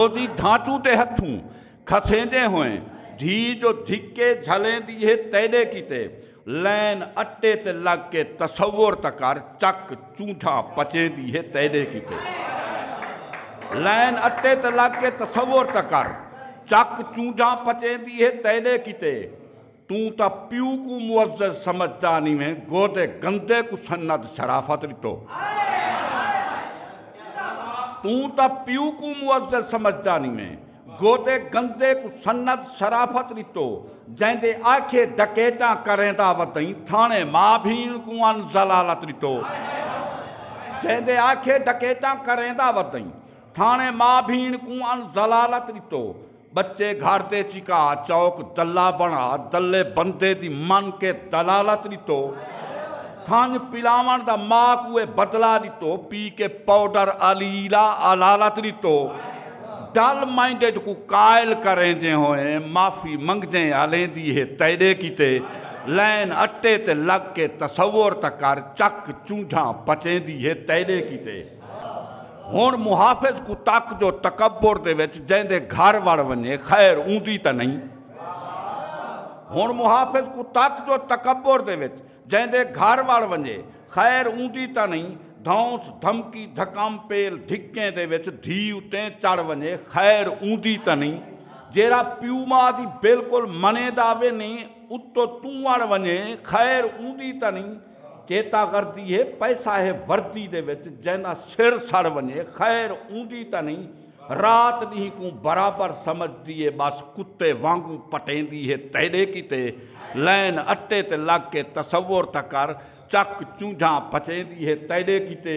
روزی دھانچوں تے ہتھوں کھسیندے ہوئیں دھی جو دھکے جھلیندی ہے تیڈے کیتے لین اٹے تے لگ کے تصور تاں کر چک چونٹھا پچیندی ہے تیڈے کیتے لین اٹے تے لگ کے تصور تاں کر چک چونٹھا پچیندی ہے تیڈے کیتے توں تاں پیو کوں معزز سمجھدا نیویں گودے گندے کوں سند شرافت ڈتو توں تاں پیو کوں معزز سمجھدا نیویں گودے گندے کوں سند شرافت ڈتو جیندے آکھے ڈکیتاں کریندا ودئیں تھانے ماں بھین کوں ان ضلالت ڈتو جیندے آکھے ڈکیتاں کریندا ودئیں تھانے ماں بھین کوں ان ضلالت ڈتو بچے گھر دے چکا چوک دلا بنا دلے بندے دی من کے دلالت ڈتو تھن پلاون دا ماں کوئے بدلا ڈتو پی کے پاؤڈر علی لا علالت ڈتو ڈل مائنڈڈ کو قائل کریں جے ہوئے معافی منگجیں علیں دی ہے تیرے کیتے لین اٹے تے لگ کے تصور تکر چک چونڈھاں پچیں دی ہے تیرے کیتے ہن محافظ کوں تک جو تکبر دے وچ جیندے گھر وڑ ونجے خیر اوندی تاں نہیں ہن محافظ کوں تک جو تکبر دے وچ جیندے گھر وڑ ونجے خیر اوندی تاں نہیں دھونس دھمکی دھکم پیل دھکیں دے وچ دھی اتیں چڑھ ونجے خیر اوندی تاں نہیں جیرا پیو ماں دی بالکل منے داوے نہیں اتو توں وڑ ونجے خیر اوندی تاں نہیں چیتا غردی ہے پیسہ ہے وردی دے وچ جیندا سر سڑ ونجے خیر اوندی تاں نہیں رات ڈینہ کوں برابر سمجھ دیے بس کتے وانگوں پٹیندی ہے تیڈے کیتے لین اٹے تے لگ کے تصور تاں کر چک چونجھاں پچیندی ہے تیڈے کیتے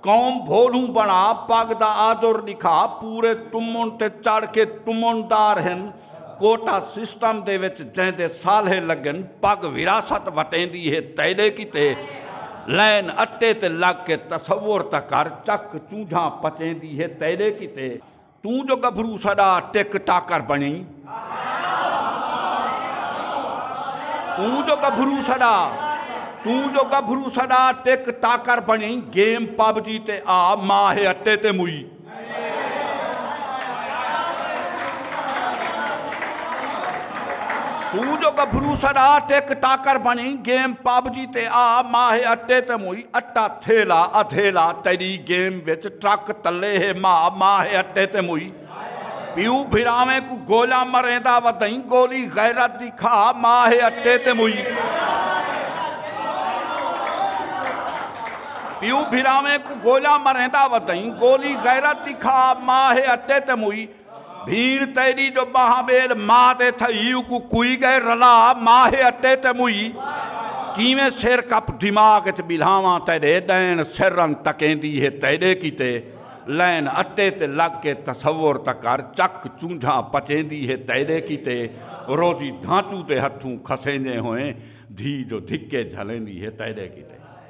قوم بھولوں بݨا پڳ دا آجر ݙکھا پورے تمن تے چڑھ کے تمن دار ہن کوٹا سسٹم دے وچ جیندے سالھے لڳن پڳ وراثت وٹیندی ہے تیݙے کیتے لین اٹے تے لڳ کے تصور تکر چک چونجھاں پچیندی ہے تیݙے کیتے توں جو گبھرو ساڈا ٹک ٹاکر بنیں توں جو گبھرو ساڈا توں جو گبھرو ساڈا ٹک ٹاکر بنیں گیم پب جی تے آ ماہ اٹے تے موئی توں جو گبھرو ساڈا ٹک ٹاکر بنیں گیم پب جی تے آ ماہ اٹے تے موئی اٹا تھیلا ادھیلا تیݙی گیم وچ ٹرک تلے ہے ماء ماء ہے اٹے تے موئی پیو بھراویں کوں گولیاں مریندا ودئیں گولی غیرت دی کھا ماء ہے اٹے تے موئی پیو بھراویں کوں گولیاں مریندا ودئیں گولی غیرت دی کھا ماء ہے اٹے تے موئی بھیڑ تیݙی جو ٻاہاں ٻیل ماء دے تھئی اوکوں کوئی ڳئے رلا ماہے اٹے تے موئی کیویں سر کپ دماغ اچ ٻلھاواں تیݙے ݙین سر رن تکیندی ہے تیݙے کیتے لین اٹے تے لڳ کے تصور تاں کر چک چونجھاں پچیندی ہے تیݙے کیتے روزی دھانچو دے ہتھوں کھسیندیں ہوئیں دھی جو دھکے جھلیندی ہے تیݙے کیتے۔